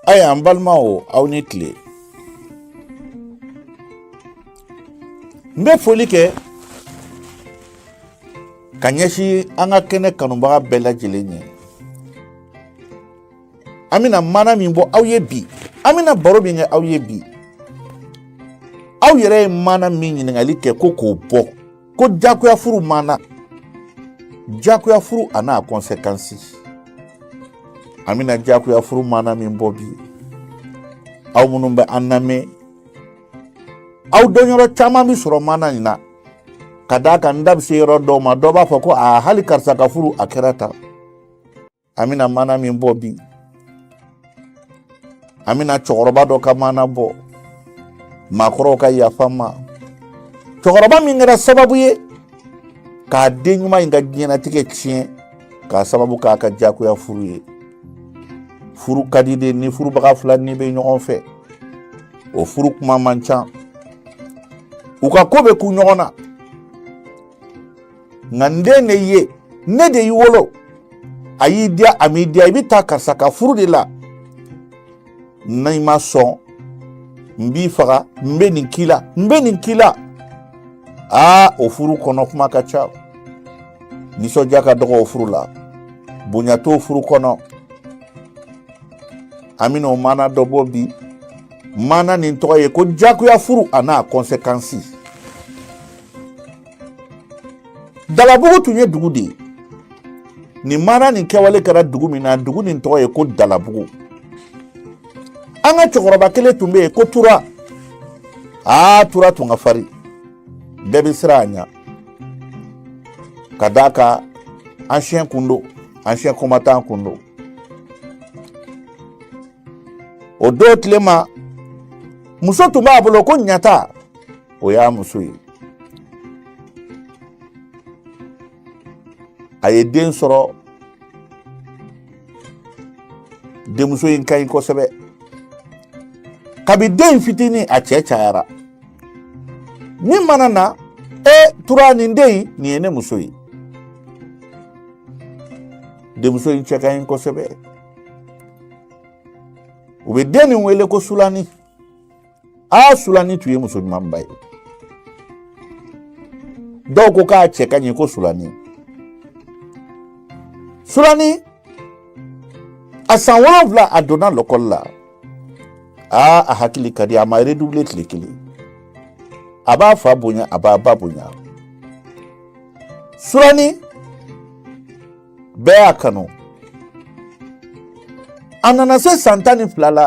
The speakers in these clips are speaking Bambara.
aya an balimaw aw ni tile n bɛ foli kɛ ka ɲɛsin an ka kɛnɛ kanubaga bɛɛ lajɛlen ye an bɛna mana min bɔ aw ye bi an bɛna baro min kɛ aw ye bi aw yɛrɛ ye mana min ɲininkali kɛ ko k'o bɔ ko jagoya furu mana jagoya furu a n'a kɔnsekansi an bɛna jagoya furu mana min bɔ bi aw minnu bɛ an lamɛn aw dɔnyɔrɔ caman bɛ sɔrɔ mana in na ka d'a kan n da bɛ se yɔrɔ dɔw ma dɔ b'a fɔ ko a hali karisa ka furu a kɛra tan an bɛna mana min bɔ bi an bɛna cɛkɔrɔba dɔ ka mana bɔ maakɔrɔw ka yafa n ma cɛkɔrɔba min kɛra sababu ye k'a den ɲuman in ka diɲɛnatigɛ tiɲɛ k'a sababu k'a ka jagoya furu ye furu ka di de ni furubaga fila ni bɛ ɲɔgɔn fɛ o furu kuma man ca u ka ko bɛ kun ɲɔgɔn na nka n den de ye ne de y'i wolo a y'i diya a m'i diya i bɛ taa karisa ka furu de la n'i ma sɔn n b'i faga n bɛ nin k'i la n bɛ nin k'i la aa o furu kɔnɔ kuma ka ca nisɔndiya ka dɔgɔ o furu la bonya t'o furu kɔnɔ an bɛna o maana dɔ bɔ bi maana nin tɔgɔ ye ko jagoya furu a n'a conséquences Dalabugu tun ye dugu de ye nin mana nin kɛwale kɛra dugu min na dugu nin tɔgɔ ye ko dalabugu an ka cɛkɔrɔba kelen tun bɛ yen ko tura aa tura tun ka farin bɛɛ bɛ siran a ɲɛ ka d'a kan ancien kun don ancien combattant kun don o don tile ma muso tun b'a bolo ko ɲata o y'a muso ye a ye den sɔrɔ denmuso in ka ɲi kosɛbɛ kabi den fitinin a cɛ cayara min mana na e tura nin den in nin ye ne muso ye denmuso in cɛ ka ɲi kosɛbɛ u bɛ den nin wele ko sulani a sulani tun ye muso ɲumanba ye dɔw ko k'a cɛ ka ɲi ko sulani sulani a san wolonwula a donna lɔkɔli la aa a hakili ka di a ma redoublé tile kelen a b'a fa bonya a b'a ba bonya sulani bɛɛ y'a kanu a nana se san tan ni fila la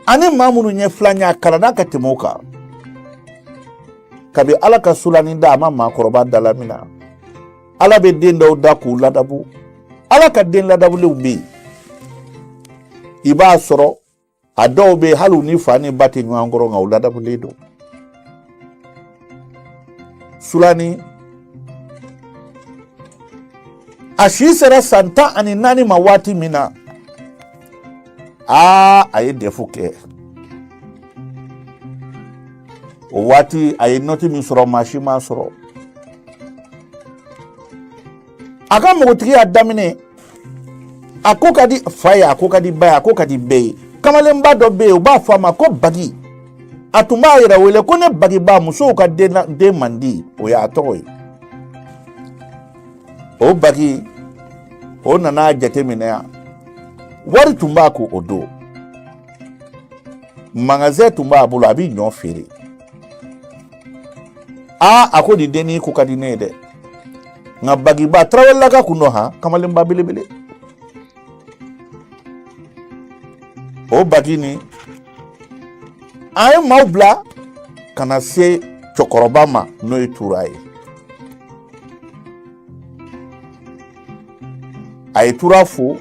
a ni maa minnu ye filan ye a kalanna ka tɛmɛ u kan kabi ala ka sulani da a ma maakɔrɔba dalaminɛ ala bɛ den dɔw da k'u ladabu ala ka den ladabulenw bɛ yen i b'a sɔrɔ a dɔw bɛ yen hali u ni fa ni ba tɛ ɲɔgɔn kɔrɔ nka u ladabulen don sulani a si sera san tan ani naani ma waati min na aa a ye dɛfu kɛ o waati a ye nɔti min sɔrɔ maa si m'a sɔrɔ a ka npogotigiya daminɛ a ko ka di fa ye a ko ka di ba ye a ko ka di bɛɛ ye kamalenba dɔ bɛ yen u b'a fɔ a ma ko bagi a tun b'a yɛrɛ wele ko ne bagiba musow ka den mandi o y'a tɔgɔ ye o bagi o nana jateminɛ yan wari tun b'a kun o don magazɛn tun b'a bolo a bɛ ɲɔ feere aa a ko nin dennin ko ka di ne ye dɛ nka bagiba tarawelelaka kun don han kamalenba belebele o bagi nin a ye maaw bila ka na se cɛkɔrɔba ma n'o ye tura ye a ye tura fo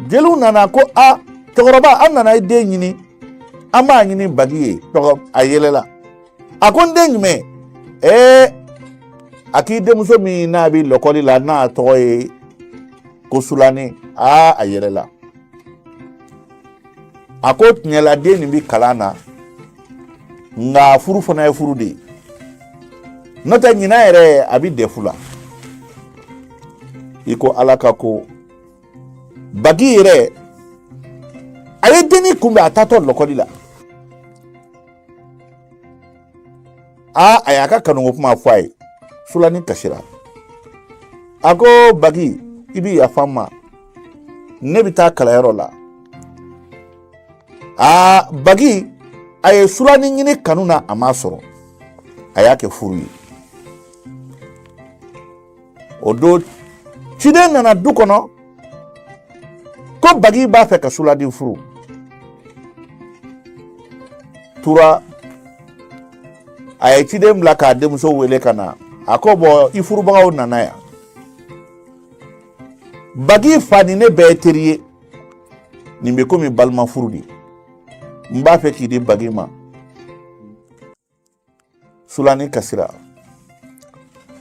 jeliw nana ko a cɛkɔrɔba an nana i den ɲini an b'a ɲini bagi ye tura a yɛlɛla a ko n den jumɛn ee a k'i denmuso min n'a bɛ lɔkɔli la n'a tɔgɔ ye ko sulani aa a yɛlɛla a ko tiɲɛla den nin bɛ kalan na nka furu fana ye furu de ye n'o tɛ ɲinan yɛrɛ a bɛ dɛfu la i ko ala ka ko bagi yɛrɛ a ye dennin kunbɛn a taatɔ lɔkɔli la aa a y'a ka kanuko kuma fɔ a ye sulani kasira a ko bagi i bi yafa n ma ne bɛ taa kalanyɔrɔ la aa bagi a ye sulani ɲini kanu na a m'a sɔrɔ a y'a kɛ furu ye o don ciden nana du kɔnɔ ko bagi b'a fɛ ka sulani furu tura a ye ciden bila k'a denmuso wele ka na a ko bɔn i furubagaw nana yan bagi fa ni ne bɛɛ ye teri ye nin bɛ komi balima furu de n b'a fɛ k'i di bagi ma sulani kasira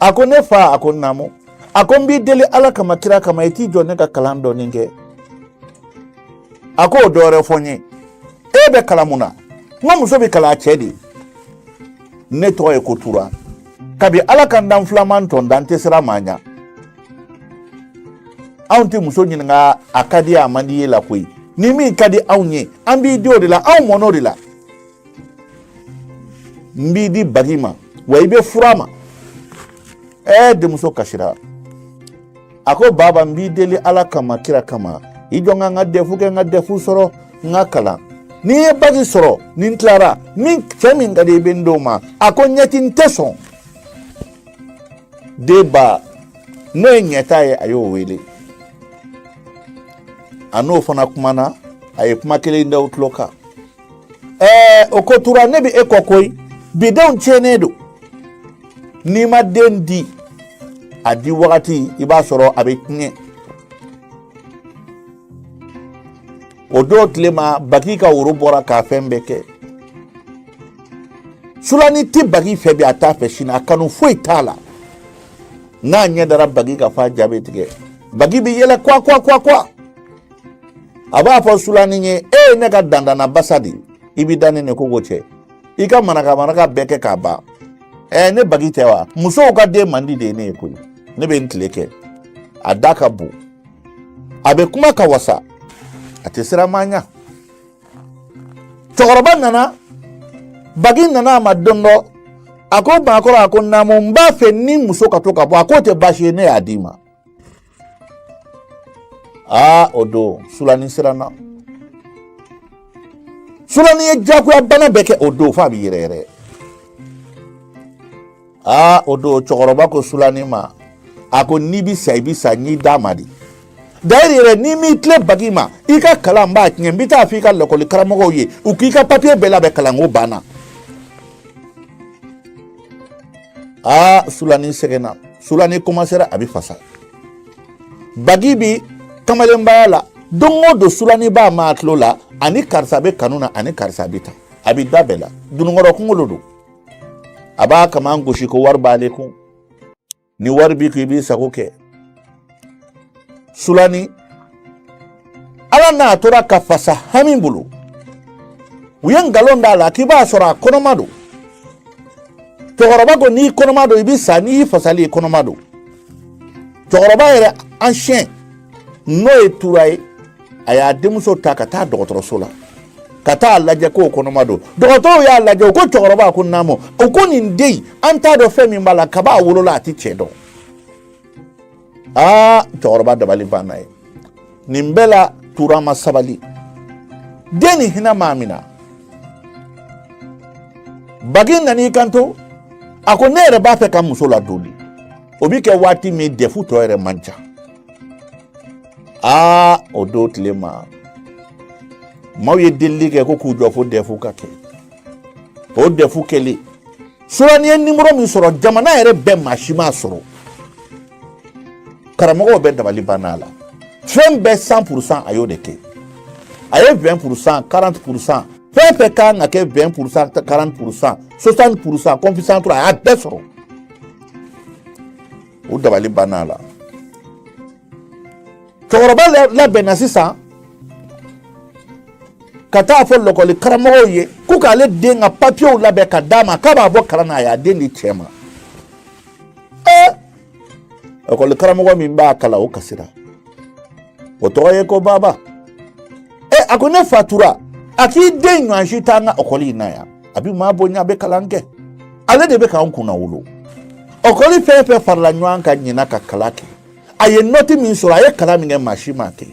a ko ne fa a ko naamu a ko n b'i deli ala kama kira kama i t'i jɔ ne ka kalan dɔɔnin kɛ a ko o dɔwɛrɛ fɔ n ye e bɛ kalan mun na n ko muso bɛ kalan a cɛ de ne tɔgɔ ye ko tura kabi ala ka n dan filan ma n tɔn da n tɛ siran maa ɲa anw tɛ muso ɲininka a ka di a man di i ye la koyi ni min ka di anw ye an b'i di o de la anw mɔn'o de la n b'i di bagi ma wa i bɛ furu a ma ɛɛ denmuso kasira a ko baba n b'i deli ala kama kira kama i jɔ n ka n ka dɛfu kɛ n ka dɛfu sɔrɔ n ka kalan ni n ye baki sɔrɔ ni n tilara min cɛ min ka di i bɛ n d'o ma a ko ɲɛti n tɛ sɔn den ba n'o ye ɲɛta ye a y'o wele a n'o fana kumana a ye kuma kelen da o tulo kan ɛɛ o ko tura ne bɛ e kɔ koyi bidenw tiɲɛnen don n'i ma den di a di wagati i b'a sɔrɔ a bɛ tiɲɛ o don tile ma bagi ka woro bɔra k'a fɛn bɛɛ kɛ sulani tɛ bagi fɛ bi a t'a fɛ sini a kanu foyi t'a la n'a ɲɛ dara bagi kan f'a ja bɛ tigɛ bagi bɛ yɛlɛ kwa kwa kwa kwa a b'a fɔ sulanin ye e ye ne ka dandana basa de i b'i da ne ni kogo cɛ i ka manaka manaka bɛɛ kɛ k'a ban ɛɛ ne bagi tɛ wa musow ka denmandi de ye ne ye koyi ne bɛ n tile kɛ a da ka bon a bɛ kuma ka wasa a tɛ siran maa ɲa cɛkɔrɔba nana bagi nana a ma don dɔ a ko baakɔrɔ a ko naamu n b'a fɛ n ni muso ka to ka bɔ a k'o tɛ baasi ye ne y'a d'i ma aa o don sulani siranna sulani ye jagoya bana bɛɛ kɛ o don f'a bɛ yɛrɛ yɛrɛ aa o don cɛkɔrɔba ko sulani ma a ko n'i bɛ sa i bɛ sa n y'i d'a ma de d'ailleurs yɛrɛ n'i m'i tilen bagi ma i ka kalan n b'a tiɲɛ n bɛ taa f'i ka lakɔli karamɔgɔw ye u k'i ka papiye bɛɛ labɛn kalanko banna aa sulani sɛgɛnna sulani komansera a bɛ fasa bagi bi kamalenbaya la don o don sulani b'a mɛn a tulo la a ni karisa bɛ kanu na a ni karisa bɛ taa a bɛ da bɛɛ la dununkɔrɔ kunkolo don a b'a kaman gosi ko wari b'ale kun ni wari b'i kun i b'i sago kɛ sulani ala n'a tora ka fasa hami bolo u ye nkalon d'a la k'i b'a sɔrɔ a kɔnɔma don cɛkɔrɔba ko n'i kɔnɔma don i bɛ sa n'i fasali i kɔnɔma don cɛkɔrɔba yɛrɛ ancien n'o ye tura ye a y'a denmuso ta ka taa dɔgɔtɔrɔso la ka taa lajɛ ko kɔnɔma don dɔgɔtɔrɔw y'a lajɛ u ko cɛkɔrɔba ko naamu u ko nin den an t'a dɔn fɛn min b'a la kaba a wolola a tɛ cɛ dɔn aa cɛkɔrɔba dabali banna ye nin bɛɛ la tura ma sabali den ni hinɛ m'a mina bagi nan'i kanto a ko ne yɛrɛ b'a fɛ ka muso ladon de o bi kɛ waati min dɛfu tɔ yɛrɛ man ca aa o don tile ma maaw ye delili kɛ ko k'u jɔ fo dɛfu ka kɛ o dɛfu kɛlen sulani ye nimɔrɔ min sɔrɔ jamana yɛrɛ bɛɛ maa si m'a sɔrɔ karamɔgɔw bɛɛ dabali banna a la fɛn bɛɛ san purusan a y'o de kɛ a ye vɛn purusan karante purusan fɛn fɛn kan ka kɛ vɛn purusan karante purusan sosanti purusan kɔnfisan a y'a bɛɛ sɔrɔ u dabali banna a la cɛkɔrɔba labɛnna sisan ka taa fɔ lɔkɔli karamɔgɔw ye ko k'ale den ka papiyew labɛn ka d'a ma k'a b'a bɔ kalan na a y'a den di cɛ ma ee lɔkɔli karamɔgɔ min b'a kalan o kasira o tɔgɔ ye ko baba ɛ a ko ne fa tura a k'i den ɲɔgɔn si t'an ka ɔkɔli in na yan a bi maa bonya a bɛ kalan kɛ ale de bɛ k'an kunnawolo ɔkɔli fɛn fɛn farala ɲɔgɔn kan ɲinan ka kalan kɛ a ye nɔti min sɔrɔ a ye kalan min kɛ maa si m'a kɛ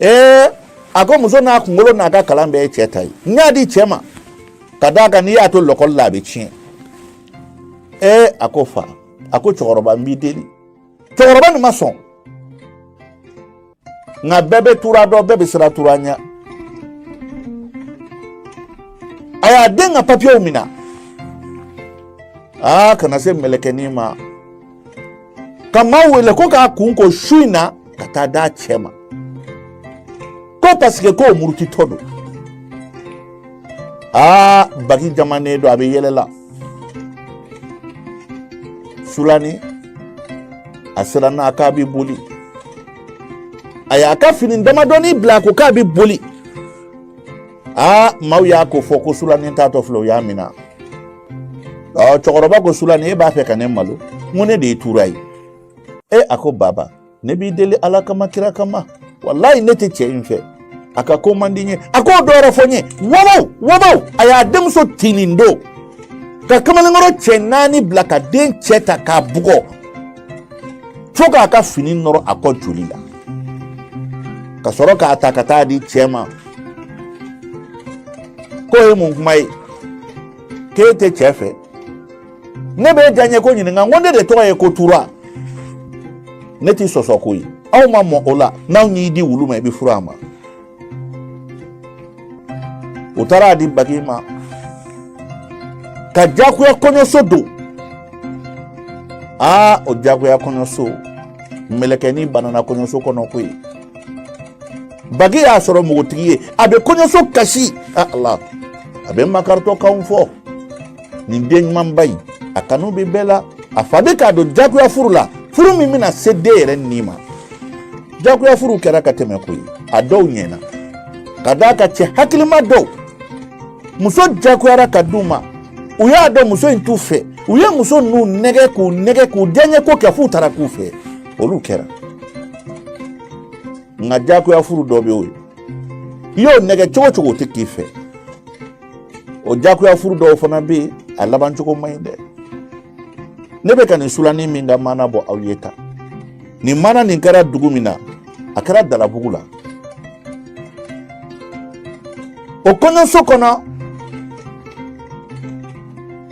ee a ko muso n'a kunkolo n'a ka kalan bɛɛ ye cɛ ta ye n y'a di cɛ ma ka d'a kan n'i y'a to lɔkɔli la a bɛ tiɲɛ ee a ko fa a ko cɛkɔrɔba n b'i deli cɛkɔrɔba nin ma sɔn nka bɛɛ bɛ tura dɔn bɛɛ bɛ siran tura ɲɛ a y'a den ka papiyew minɛ aa ka na se mɛlɛkɛnin ma ka maa wele ko k'a kun ko su in na ka taa d'a cɛ ma ko paseke k'o murutitɔ don aa bagi jamanen don a bɛ yɛlɛ la sulani a siranna k'a bɛ boli a y'a ka fini damadɔni bila ko k'a bɛ boli aa maaw y'a kofɔ ko sulani taatɔ filɛ u y'a minɛ ɔ cɛkɔrɔba ko sulani e b'a fɛ ka ne malo n ko ne de ye tura ye e a ko baba ne b'i deli ala kama kira kama walayi ne tɛ cɛ in fɛ a ka ko man di n ye a ko dɔ wɛrɛ fɔ n ye wabaw wabaw a y'a denmuso tinin don ka kamalenkɔrɔ cɛ naani bila ka den cɛ ta k'a bugɔ fo k'a ka fini nɔrɔ a kɔ joli la ka sɔrɔ k'a ta ka taa di cɛ ma k'o ye mun kuma ye k'e tɛ cɛ fɛ ne bɛ diyaɲɛ ko ɲininka n ko ne de tɔgɔ ye ko tura ne t'i sɔsɔ koyi aw ma mɔ o la n'an y'i di wulu ma i bɛ furu a ma u taara a di bagi ma ka jagoya kɔɲɔso don aa o jagoya kɔɲɔso mɛlɛkɛni banana kɔɲɔso kɔnɔ koyi bagi y'a sɔrɔ npogotigi ye a bɛ kɔɲɔso kasi ala a bɛ makaritɔkanw fɔ nin den ɲumanba in a kanu bɛ bɛɛ la a fa bɛ k'a don jagoya furu la furu min bɛna se den yɛrɛ ni ma jagoya furu kɛra ka tɛmɛ koyi a dɔw ɲɛna ka d'a kan cɛ hakilima dɔw muso jagoyara ka d'u ma u y'a dɔn muso in t'u fɛ u ye muso ninnu nɛgɛ k'u nɛgɛ k'u diyaɲɛ ko kɛ f'u taara k'u fɛ olu kɛra nka jagoya furu dɔ bɛ yen o ye i y'o nɛgɛ cogo cogo o tɛ k'i fɛ o jagoya furu dɔw fana bɛ yen a laban cogo man ɲi dɛ ne bɛ ka nin sulani min ka maana bɔ aw ye tan nin maana nin kɛra dugu min na a kɛra dalabugu la o kɔɲɔso kɔnɔ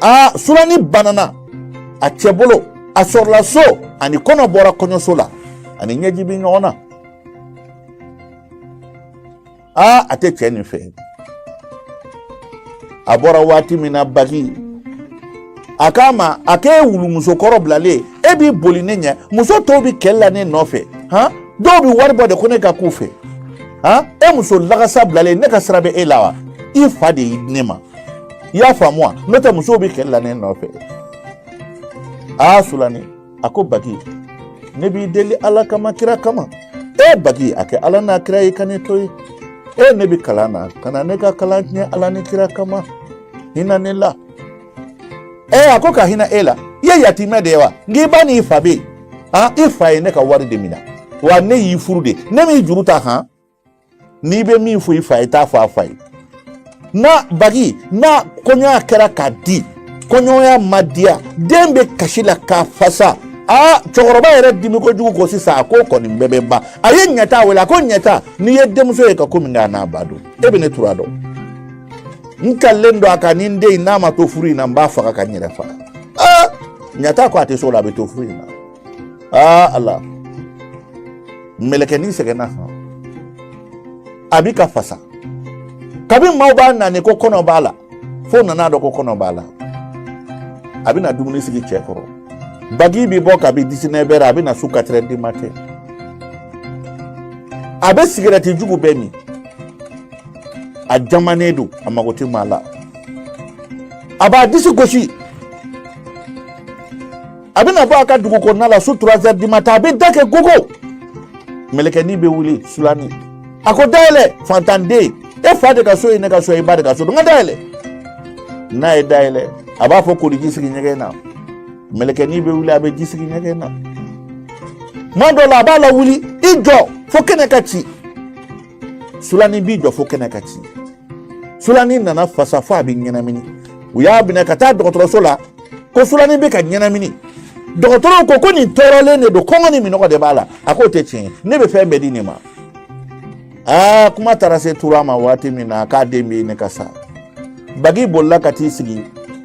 a sulani banana a cɛ bolo a sɔrɔla so a ni kɔnɔ bɔra kɔɲɔso la a ni ɲɛji bɛ ɲɔgɔn na aa a tɛ cɛ nin fɛ a bɔra waati min na bagi a k'a ma a k'e wulumuso kɔrɔ bilalen e b'i boli ne ɲɛ muso tɔw bɛ kɛlɛ la ne nɔfɛ han dɔw bɛ wari bɔ de ko ne ka k'u fɛ han e muso lagasa bilalen ne ka sira bɛ e la wa i fa de y'i di ne ma i y'a faamu wa n'o tɛ musow bɛ kɛlɛ la ne nɔfɛ aa sulani a ko bagi ne b'i deli ala kama kira kama e bagi a kɛ ala n'a kira ye ka ne to yen e ne bɛ kalan na kana ne ka kalan tiɲɛ ala ni kira kama hinɛ ne la e a ko ka hinɛ e la i ye yatimɛ de ye wa nka i ba n'i fa bɛ yen i fa ye ne ka wari de minɛ wa ne y'i furu de ne m'i juru ta han n'i bɛ min fɔ i fa ye t'a fɔ a fa ye n'a bagi n'a kɔɲɔya kɛra k'a di kɔɲɔya ma diya den bɛ kasi la ka fasa aa cɛkɔrɔba yɛrɛ dimi kojugu ko sisan a ko nin bɛɛ bɛ ban a ye ɲɛta wele a ko ɲɛta n'i ye denmuso ye ka ko min kɛ a n'a ba don e bɛ ne tura dɔn n kalilen don a kan ni n den in n'a ma to furu in na n b'a faga ka n yɛrɛ faga aa ɲɛta ko a tɛ s'o la a bɛ to furu in na aa ala mɛlɛkɛnin sɛgɛnna san a bi ka fasa kabini maaw b'a nani ko kɔnɔ b'a la fo nan'a dɔn ko kɔnɔ b'a la a bɛna dumuni sigi cɛ kɔrɔ bagi bi bɔ kabi disinɛvɛri a bɛna su katirɛri dimatɛn a bɛ sigɛrɛti jugu bɛɛ min a jamanen don a mago tɛ maa la a b'a disi gosi a bɛna bɔ a ka dugu kɔnɔna la su turazɛri dimatɛn a bɛ da kɛ gogo mɛlɛkɛni bɛ wuli sulani a ko dayɛlɛ fantanden e fa de ka so ye ne ka so ye i ba de ka so don n ka dayɛlɛ n'a ye dayɛlɛ a b'a fɔ koliji sigi ɲɛgɛn na mɛlɛkɛni bɛ wuli a bɛ ji sigi ɲɛgɛn na tuma dɔ la a b'a lawuli i jɔ fo kɛnɛ ka ci sulani b'i jɔ fo kɛnɛ ka ci sulani nana fasa fo a bɛ ɲɛnamini u y'a minɛ ka taa dɔgɔtɔrɔso la ko sulani bɛ ka ɲɛnamini dɔgɔtɔrɔw ko ko nin tɔɔrɔlen de don kɔngɔ ni minɔgɔ de b'a la a k'o tɛ tiɲɛ ye ne bɛ fɛn bɛɛ di nin ma aa kuma taara se tura ma waati min na k'a den bɛ ɲini ka sa bagi bolila ka t'i sigi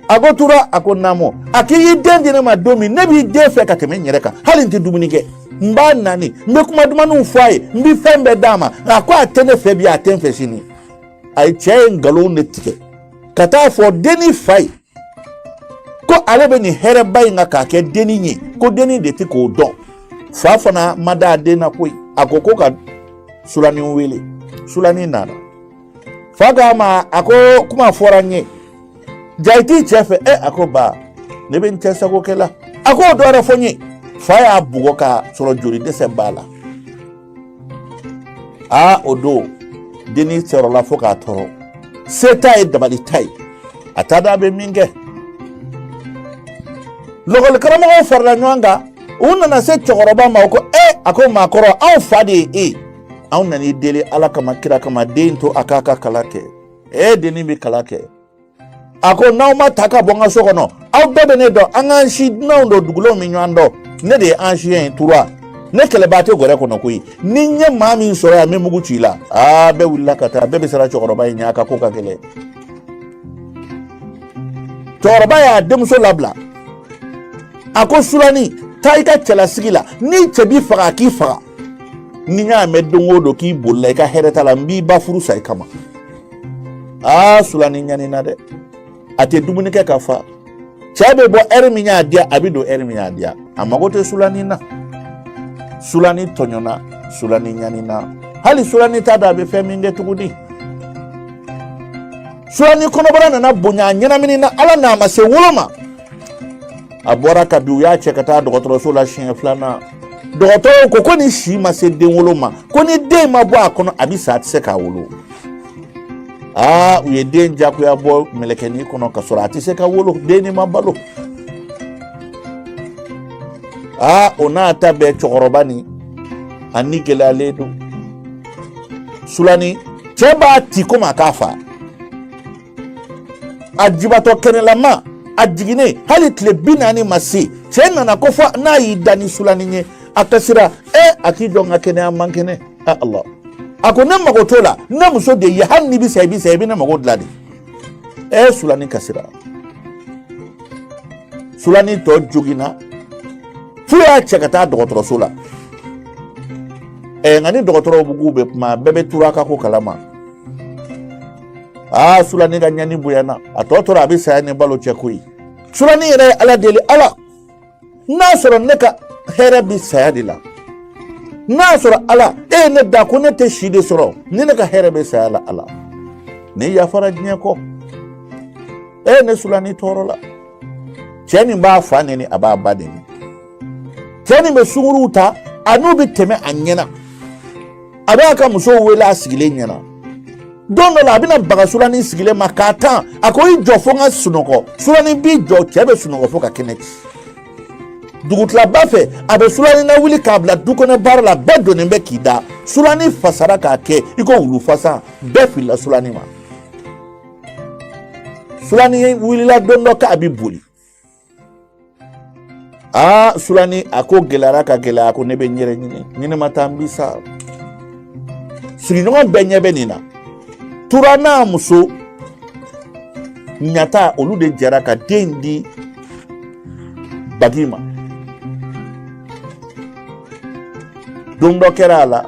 a ko tura a ko naamu a k'i y'i den di ne ma don min ne b'i den fɛ ka tɛmɛ n yɛrɛ kan hali n tɛ dumuni kɛ n b'a nani n bɛ kuma dumanniw fɔ a ye n bɛ fɛn bɛɛ d'a ma a ko a tɛ ne fɛ bi a tɛ n fɛ sini a ye cɛ ye nkalon de tigɛ ka taa fɔ denni fa ye ko ale bɛ nin hɛrɛba in kan k'a kɛ dennin ye ko dennin de tɛ ko dɔn fa fana ma da a den na koyi a ko ko ka sulani wele sulani nana fa k'a ma a ko kuma fɔra n ye jaa i t'i cɛ fɛ ɛ a ko ba ne bɛ n cɛ sago kɛ la a ko o dɔ wɛrɛ fɔ n ye fa y'a bugɔ k'a sɔrɔ joli dɛsɛ b'a la aa o don dennin tɔɔrɔla fo ka tɔɔrɔ se t'a ye dabali t'a ye a t'a dɔn a bɛ min kɛ lakɔli karamɔgɔw farala ɲɔgɔn kan u nana se cɛkɔrɔba ma u ko e a ko maakɔrɔ anw fa de ye e anw nan'i deli ala kama kira kama den to a k'a ka kalan kɛ e dennin bɛ kalan kɛ a ko n'aw ma taa ka bɔ n ka so kɔnɔ aw bɛɛ bɛ ne dɔn an k'an si dunanw don dugulenw bɛ ɲɔgɔn dɔn ne de ye an siɲɛ ye tura ne kɛlɛbaa tɛ gɔrɛ kɔnɔ koyi ni n ye maa min sɔrɔ yan n bɛ mugu ci i la aa bɛɛ wulila ka taa bɛɛ bɛ siran cɛkɔrɔba in ɲɛ a ka ko ka gɛlɛn cɛkɔrɔba y'a denmuso labila a ko sulani taa i ka cɛlasigi la ni cɛ b'i faga a k'i faga ni n y'a mɛn don o don k'i bolila i ka hɛrɛ t'a la n b'i ba furu sa i kama aa sulani ɲanina dɛ a tɛ dumuni kɛ ka fa cɛ bɛ bɔ ɛri min y'a diya a bɛ don ɛri min y'a diya a mago tɛ sulani na sulani tɔɲɔna sulani ɲanina hali sulani t'a dɔn a bɛ fɛn min kɛ tuguni sulani kɔnɔbara nana bonya a ɲɛnaminina ala n'a ma se wolo ma a bɔra ka bin u y'a cɛ ka taa dɔgɔtɔrɔso la siɲɛ filanan dɔgɔtɔrɔw ko ko nin si ma se den wolo ma ko ni den ma bɔ a kɔnɔ a bɛ sa a tɛ se k'a wolo aa u ye den jagoya bɔ mɛlɛkɛnin kɔnɔ ka sɔrɔ a tɛ se ka wolo dennin ma balo aa o n'a ta bɛɛ cɛkɔrɔbanin a ni gɛlɛyalen don sulani cɛ b'a ti komi a k'a fa a jibatɔ kɛnɛlama a jiginnen hali tile bi naani ma se cɛ nana ko fo n'a y'i da ni sulanin ye a kasira e a k'i jɔ n ka kɛnɛya man kɛnɛ a ala a ko ne mago t'o la ne muso de ye hali n'i bɛ sa i bɛ sa i bɛ ne mago dilan de e sulanin kasira sulanin tɔ joginna f'u y'a cɛ ka taa dɔgɔtɔrɔso la ɛ nka ni dɔgɔtɔrɔw k'u bɛ kuma bɛɛ bɛ tura ka ko kalama aa sulani ka ɲani bonyana a tɔ tora a bɛ saya ni balo cɛ koyi sulani yɛrɛ ye ala deli ala n'a sɔrɔ ne ka hɛrɛ bɛ saya de la n'a sɔrɔ ala e ye ne da ko ne tɛ si de sɔrɔ ni ne ka hɛrɛ bɛ saya la ala ne yafara diɲɛ kɔ e ye ne sulani tɔɔrɔla cɛ nin b'a fa neni a b'a ba neni cɛ nin bɛ sunkuruw ta a n'u bɛ tɛmɛ a ɲɛna a b'a ka musow wele a sigilen ɲɛna don dɔ la a bɛna baga sulanin sigilen ma k'a tan a ko i jɔ fo n ka sunɔgɔ sulanin b'i jɔ cɛ bɛ sunɔgɔ fo ka kɛnɛ ci dugutilaba fɛ a bɛ sulanin nawuli k'a bila du kɔnɔ baara la bɛɛ donnen bɛ k'i da sulanin fasara k'a kɛ i ko wulu fasa bɛɛ filila sulanin ma sulanin wulila don dɔ k'a bɛ boli aa sulani a ko gɛlɛyara ka gɛlɛya ko ne bɛ n yɛrɛ ɲini ni ne ma taa n bi sa sigiɲɔgɔn bɛɛ ɲɛ bɛ nin na tura n'a muso ɲata olu de jɛra ka den di bagi ma don dɔ kɛra a la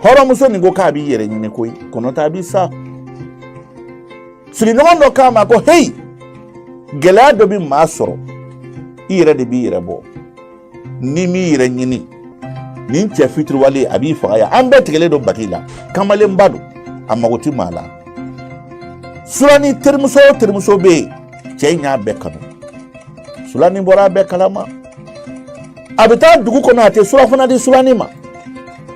hɔrɔnmuso nin ko k'a b'i yɛrɛ ɲini koyi ko n'o t'a bi sa sigiɲɔgɔn dɔ k'a ma ko heyi gɛlɛya dɔ bɛ maa sɔrɔ i yɛrɛ de b'i yɛrɛ bɔ n'i m'i yɛrɛ ɲini nin cɛ fitiriwale a b'i faga yan an bɛɛ tigɛlen don bagi la kamalenba don a mago tɛ maa la sulani terimuso o terimuso bɛ yen cɛ in y'a bɛɛ kanu sulani bɔra a bɛɛ kalama a bɛ taa dugu kɔnɔ a tɛ surafana di sulani ma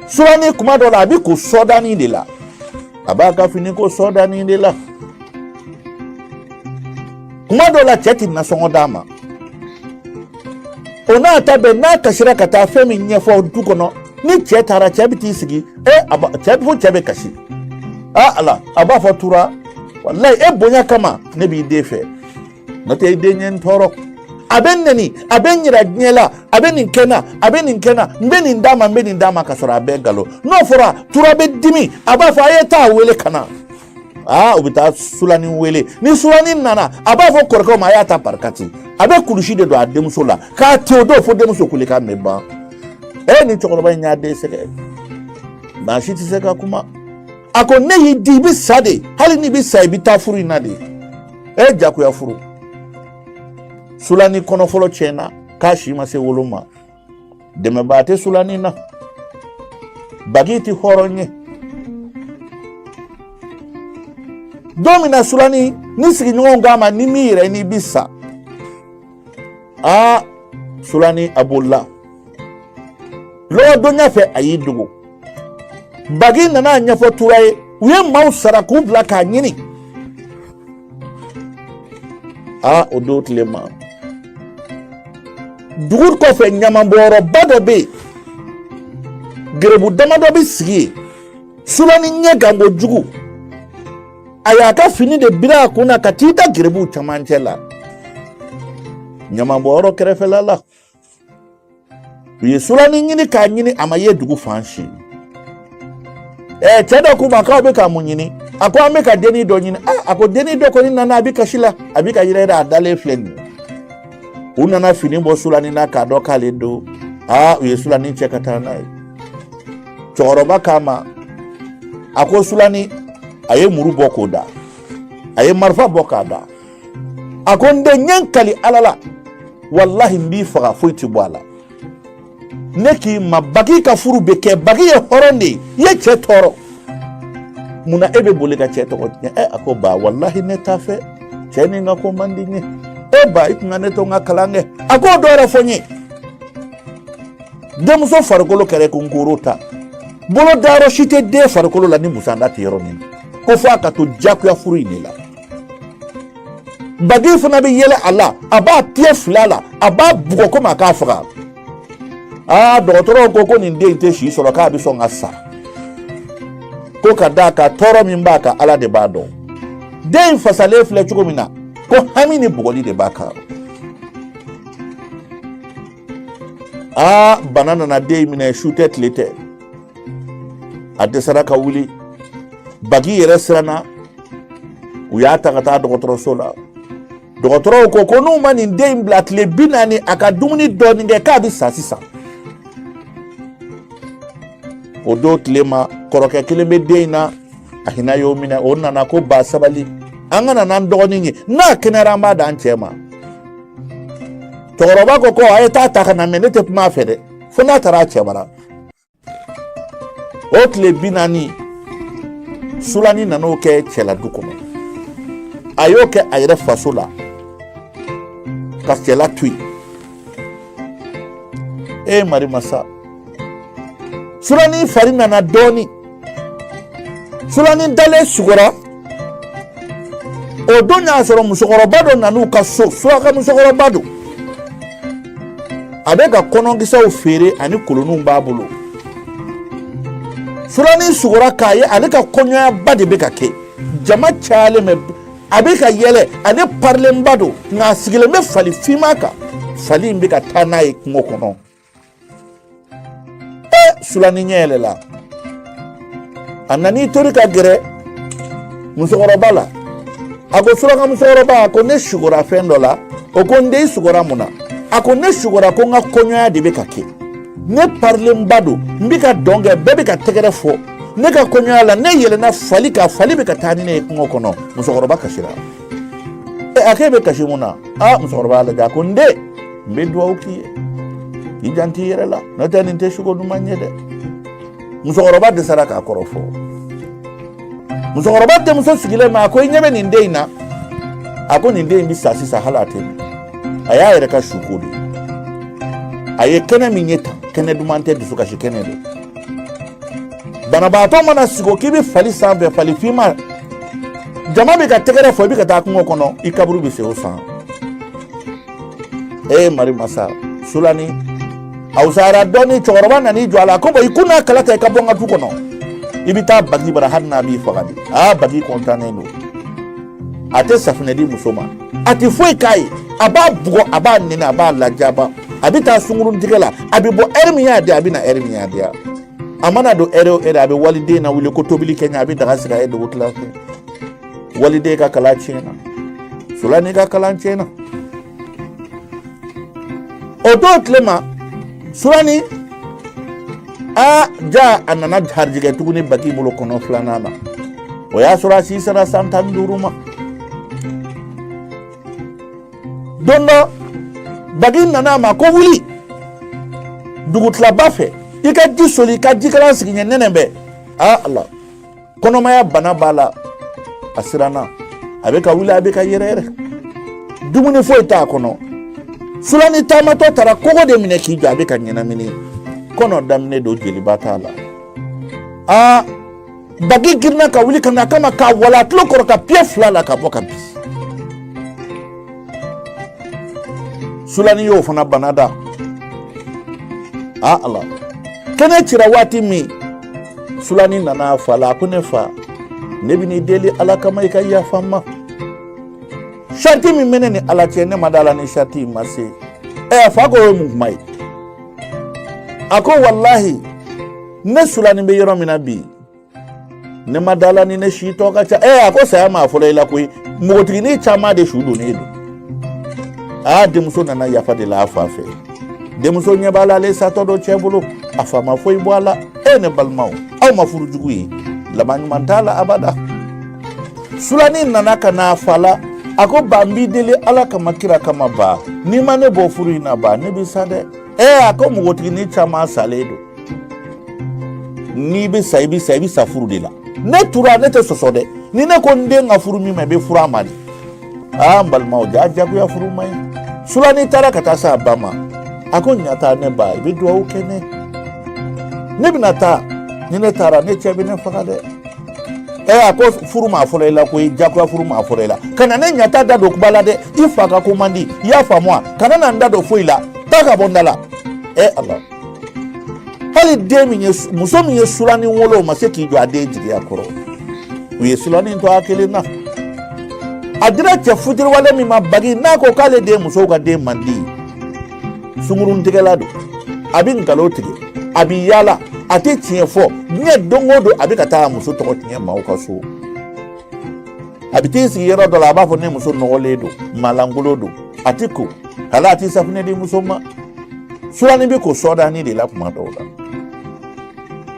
sulani kuma dɔ la a bɛ ko sɔdani de la a b'a ka fini ko sɔdani de la kuma dɔ la cɛ ti nasɔngɔ d'a ma o n'a ta bɛɛ n'a kasira ka taa fɛn min ɲɛfɔ du kɔnɔ ni cɛ taara cɛ bɛ t'i sigi e cɛ fo cɛ bɛ kasi aa ala a b'a fɔ tura walayi e bonya kama ne b'i den fɛ n'o tɛ i den ye n tɔɔrɔ a bɛ n nɛni a bɛ n yira diɲɛ la a bɛ nin kɛ n na a bɛ nin kɛ n na n bɛ nin d'a ma n bɛ nin d'a ma ka sɔrɔ a bɛɛ nkalon n'o fɔra tura bɛ dimi a b'a fɔ a ye taa wele ka na aa u bɛ taa sulani wele ni sulani nana a b'a fɔ kɔrɔkɛw ma a y'a ta barikati a bɛ kulusi de don a denmuso la k'a te o don fo denmuso kulekan bɛ ban e ni cɛkɔrɔba in y'a den sɛgɛn maa si tɛ se ka kuma a ko ne y'i di i bɛ sa de hali n'i bɛ sa i bɛ taa furu in na de ɛ e jagoya furu sulani kɔnɔ fɔlɔ tiɲɛna k'a si ma se wolo ma dɛmɛbaa tɛ sulani na bagi tɛ hɔrɔn ye don min na sulani ni sigiɲɔgɔnw k'a ma n'i m'i yɛrɛ ɲini i bi sa aa sulani a bolila lɔgɔdonya fɛ a y'i dogo bagi nana a ɲɛfɔ tura ye u ye maaw sara k'u bila k'a ɲini aa o don tile ma dugu kɔfɛ ɲamanbɔyɔrɔba dɔ bɛ yen gerebu damadɔ bɛ sigi yen sulani ɲɛgan kojugu a y'a ka fini de biri a kun na ka t'i da gerebuw camancɛ la ɲamanbɔyɔrɔ kɛrɛfɛla la u ye sulani ɲini k'a ɲini a ma ye dugu fan si ɛɛ cɛ dɔ k'u ma k'aw bɛ ka mun ɲini a ko an bɛ ka denni dɔ ɲini a ko denni dɔ kɔni nana a bɛ kasi la a bɛ ka yɛrɛyɛrɛ a dalen filɛ nin ye u nana fini bɔ sulani na k'a dɔn k'ale don aa u ye sulani cɛ ka taa n'a ye cɛkɔrɔba k'a ma a ko sulani a ye muru bɔ k'o da a ye marifa bɔ k'a da a ko n den n ye n kali ala la walahi n b'i faga foyi tɛ bɔ a la ne k'i ma bagi ka furu bɛ kɛ bagi ye hɔrɔn de ye i ye cɛ tɔɔrɔ mun na e bɛ boli ka cɛ tɔgɔ tiɲɛ ɛ a ko ba walahi ne t'a fɛ cɛ nin ka ko man di n ye e ba i tun ka ne to n ka kalan kɛ a k'o dɔ yɛrɛ fɔ n ye denmuso farikolo kɛra ko n koro ta bolo dayɔrɔ si tɛ den farikolo la ni busanda tɛ yɔrɔ min ko fo a ka to diyagoya furu in de la bagi fana bɛ yɛlɛ a la a b'a tigɛ fila la a b'a bugɔ komi a k'a faga aa dɔgɔtɔrɔw ko ko nin den in tɛ si sɔrɔ k'a bɛ sɔn ka sa ko ka d'a kan tɔɔrɔ min b'a kan ala de b'a dɔn den fasalen filɛ cogo min na ko hami ni bugɔli de b'a kan aa bana nana den minɛ su tɛ tile tɛ a dɛsɛra ka wuli bagi yɛrɛ siranna u y'a ta ka taa dɔgɔtɔrɔso la dɔgɔtɔrɔw ko ko n'u ma nin den in bila tile bi naani a ka dumuni dɔɔnin kɛ k'a bɛ sa sisan o don tile ma kɔrɔkɛ kelen bɛ den in na a hinɛ y'o minɛ o nana ko ba sabali an ka na n'an dɔgɔnin ye n'a kɛnɛyara an b'a d'an cɛ ma cɛkɔrɔba ko ko a ye taa a ta ka na mɛ ne tɛ kuma a fɛ dɛ fo n'a taara a cɛ bara o tile bi naani sulani nan'o kɛ cɛla du kɔnɔ a y'o kɛ a yɛrɛ faso la ka cɛla to yen e mari masa sulani fari nana dɔɔnin Sulani dalen sugora o don y'a sɔrɔ musokɔrɔba dɔ nana u ka so suraka musokɔrɔba don a bɛ ka kɔnɔkisɛw feere ani kolonninw b'a bolo sulani sugora k'a ye ale ka kɔɲɔyaba de bɛ ka kɛ jama cayalen bɛ a bɛ ka yɛlɛ ale parilenba don nka a sigilen bɛ fali finma kan fali in bɛ ka taa n'a ye kungo kɔnɔ sulani ɲɛ yɛlɛla a nan'i tori ka gɛrɛ musokɔrɔba la a ko suraka musokɔrɔba a ko ne sugora fɛn dɔ la o ko n den i sugora mun na a ko ne sugora ko n ka kɔɲɔya de bɛ ka kɛ ne parilenba don n bɛ ka dɔn kɛ bɛɛ bɛ ka tɛgɛrɛ fɔ ne ka kɔɲɔya la ne yɛlɛnna fali kan fali bɛ ka taa ni ne ye kungo kɔnɔ musokɔrɔba kasira a k'e bɛ kasi mun na aa musokɔrɔba y'a lajɛ a ko n den n bɛ dugawu k'i ye k'i janto i yɛrɛ la n'o tɛ nin tɛ suko duman ye dɛ musokɔrɔba dɛsɛra k'a kɔrɔ fɔ musokɔrɔba denmuso sigilen bɛ a ko i ɲɛ bɛ nin den in na a ko nin den in bɛ sa sisan hali a tɛ mɛn a y'a yɛrɛ ka suko de a ye kɛnɛ min ye tan kɛnɛ duman tɛ dusukasi kɛnɛ de banabaatɔ mana sugo k'i bɛ fali sanfɛ fali finma jama bɛ ka tɛgɛrɛ fɔ i bɛ ka taa kungo kɔnɔ i kaburu bɛ sen o san e mari masa sulani a wusayara dɔɔni cɛkɔrɔba nan'i jɔ a la ko bɔn i ku n'a kala ta i ka bɔ n ka du kɔnɔ i bɛ taa bagi bara hali n'a b'i faga de aa bagi kɔntannen don a tɛ safinɛ di muso ma a tɛ foyi k'a ye a b'a bugɔ a b'a nɛni a b'a lajaba a bɛ taa sungurun tigɛ la a bɛ bɔ ɛri min y'a diya a bɛ na ɛri min y'a diya a mana don ɛri o ɛri a bɛ waliden lawuli ko tobili kɛ n ye a bɛ daga sigi a ye dugutila fɛ waliden ka kalan tiɲɛna sulani ka kalan tiɲɛna o don tile ma sulani a ja a nana garijɛgɛ tuguni bagi bolo kɔnɔ filanan na o y'a sɔrɔ a si sera san tan ni duuru ma don dɔ bagi nana a ma ko wuli dugutilaba fɛ i ka ji soli ka jikalan sigi n ɲɛ nɛnɛ bɛ a ala kɔnɔmaya bana b'a la a siranna a bɛ ka wuli a bɛ ka yɛrɛyɛrɛ dumuni foyi t'a kɔnɔ sulani taamatɔ taara kogo de minɛ k'i jɔ a bɛ ka ɲɛnamini kɔnɔ daminɛ don jeliba t'a la aa bagi girinna ka wuli ka na a kama k'a walon a tulo kɔrɔ ka piye fila la ka bɔ ka bin sulani y'o fana bana da a ala kɛnɛ cira waati min sulani nana a fa la a ko ne fa ne bɛn'i deli ala kama i ka yafa n ma sariti min bɛ ne ni ala cɛ ne ma da a la ni sariti in ma se ɛ a fa ko o ye mun kuma ye a ko walahi ne sulani bɛ yɔrɔ min na bi ne ma da a la ni ne si tɔ ka ca ɛ a ko saya ma fɔlɔ i la koyi npogotiginin caman de su donnen don aa denmuso nana yafa de la a fa fɛ denmuso ɲɛ b'a la ale satɔ don cɛ bolo a fa ma foyi bɔ a la e ne balimaw aw ma furu jugu ye laban ɲuman t'a la abada sulani nana ka na a fa la a ko ba n b'i deli ala kama kira kama ba n'i ma ne bɔ furu in na ba ne bɛ sa dɛ ɛ a ko npogotiginin caman salen don n'i bɛ sa i bɛ sa furu de la ne tura ne tɛ sɔsɔ dɛ ni ne ko n den ka furu min ma i bɛ furu a ma de aa n balimaw ja jagoya furu ma ɲi sulani taara ka taa s'a ba ma a ko ɲata ne ba i bɛ dugawu kɛ ne ne bɛna taa ni ne taara ne cɛ bɛ ne faga dɛ ɛ a ko furu ma fɔlɔ i la koyi jagoya furu ma fɔlɔ i la kana ne ɲata da don kuma la dɛ i fa ka ko man di i y'a faamu wa kana na n da don foyi la taa ka bɔ n da la ɛ ala hali den min ye muso min ye sulani wolo o ma se k'i jɔ a den jigiya kɔrɔ u ye sulani to a kelen na a dira cɛ futiriwale min ma bagi n'a ko k'ale de musow ka denmandi sunguruntigɛla don a bɛ nkalo tigɛ a bɛ yaala a tɛ tiɲɛ fɔ diɲɛ don o don a bɛ ka taa a muso tɔgɔ tiɲɛ maaw ka so a bɛ t'i sigi yɔrɔ dɔ la a b'a fɔ ne muso nɔgɔlen don maa lankolon don a tɛ ko hali a tɛ safunɛ di muso ma sulani bɛ ko sɔdani de la kuma dɔw la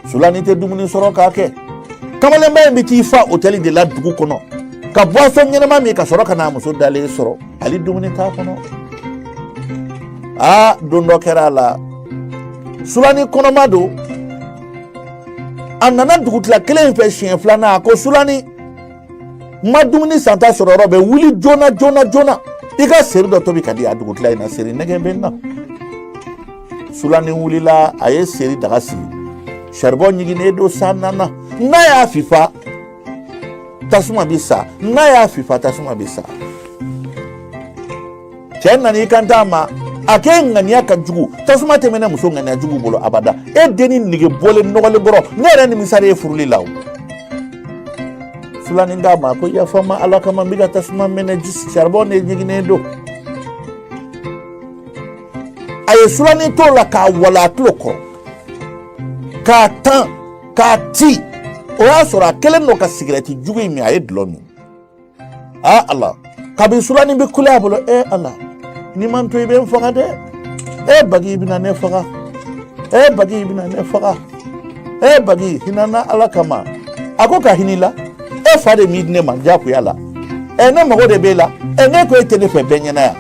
sulani tɛ dumuni sɔrɔ k'a kɛ kamalenba in bɛ t'i fa otɛli de la dugu kɔnɔ ka boisson ɲɛnama min ka sɔrɔ ka n'a muso dalen sɔrɔ hali dumuni t'a kɔnɔ aa don dɔ kɛra a la sulani kɔnɔma don a nana dugutila kelen in fɛ siɲɛ filanan a ko sulani n ma dumuni santa sɔrɔ yɔrɔ bɛ wuli joona joona joona i ka seri dɔ tobi ka di a dugutila in na seri nege bɛ n na sulani wulila a ye seri daga sigi saribɔn ɲiginnen don san nana n'a y'a fifa tasuma bɛ sa n'a y'a fifa tasuma bɛ sa cɛ nana i kan t'a ma a k'e ŋaniya ka jugu tasuma tɛ mɛnɛ muso ŋaniya jugu bolo abada e denni nege bɔlen nɔgɔlen bɔrɔ ne yɛrɛ nimisara e furuli la o sulani k'a ma ko yafa n ma ala kama n bɛ ka tasuma mɛnɛ saribɔn de ɲiginnen don a ye sulani t'o la k'a walon a tulo kɔrɔ k'a tan k'a ti o y'a sɔrɔ a kɛlen don ka sigirɛti jugu in min a ye dulɔ min aa ala kabi sulani bɛ kule a bolo e ala n'i ma to i bɛ n faga dɛ e bagi i bɛna ne faga e bagi i bɛna ne faga e bagi hina n na ala kama a ko ka hin'i la e fa de m'i di ne ma jakuya la ɛ ne mago de b'e la ɛ ne ko e tɛ ne fɛ bɛɛ ɲɛna yan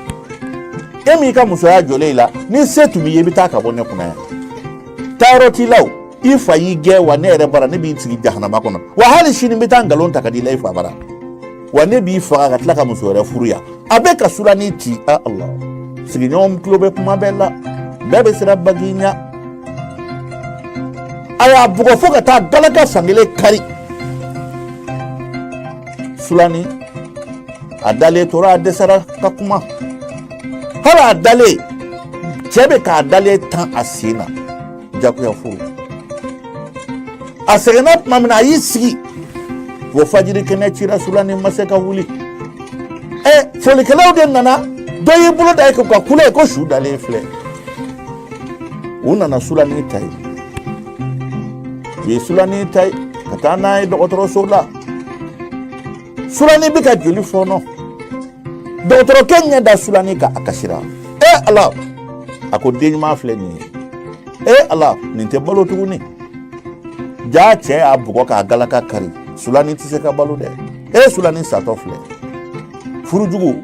e m'i ka musoya jɔlen i la ni se tun b'i ye i bɛ taa ka bɔ ne kunna yan taayɔrɔ t'i la o i fa y'i gɛn wa ne yɛrɛ bara ne b'i sigi jahanama kɔnɔ wa hali sini n bɛ taa nkalon ta ka di la i fa bara wa ne b'i faga ka tila ka muso wɛrɛ furu yan a bɛ ka sulani ti a ala sigiɲɔgɔn tulo bɛ kuma bɛɛ la bɛɛ bɛ siran bagi ɲa a y'a bugɔ fo ka taa galaka fankelen kari sulani a dalen tora a dɛsɛra ka kuma hali a dalen cɛ bɛ k'a dalen tan a sen na jakuya furu a sɛgɛnna tuma min na a y'i sigi fo fajiri kɛnɛ cira sulani ma se ka wuli ɛ folikɛlaw de nana dɔ y'i bolo da i kun ka kule ko su dalen filɛ u nana sulani ta yen u ye sulani ta yen ka taa n'a ye dɔgɔtɔrɔso la sulani bɛ ka joli fɔɔnɔ dɔgɔtɔrɔkɛ ɲɛ da sulani kan a kasira e ala a ko den ɲuman filɛ nin ye e ala nin tɛ balo tuguni jaa cɛ y'a bugɔ k'a galaka kari sulani tɛ se ka balo dɛ e sulani satɔ filɛ furu jugu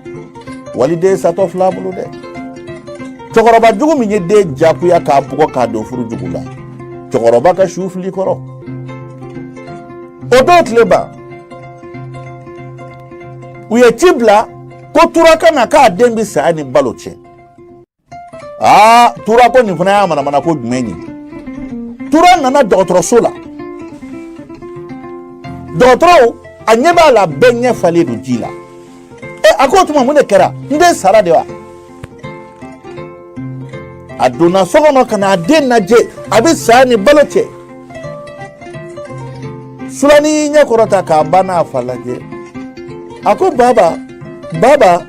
waliden satɔ fil'a bolo dɛ cɛkɔrɔba jugu min ye den jakuya k'a bugɔ k'a don furu jugu la cɛkɔrɔba ka su fili kɔrɔ o don tile ban u ye ci bila ko tura ka na k'a den bɛ saya ni balo cɛ aa tura ko nin fana y'a manamana ko jumɛn ye tura nana dɔgɔtɔrɔso la dɔgɔtɔrɔw a ɲɛ b'a la bɛɛ ɲɛ falen don ji la e a ko o tuma mun de kɛra n den sara de wa a donna so kɔnɔ ka na a den lajɛ a bɛ saya ni balo cɛ sulani y'i ɲɛ kɔrɔta k'a ba n'a fa lajɛ a ko baba baba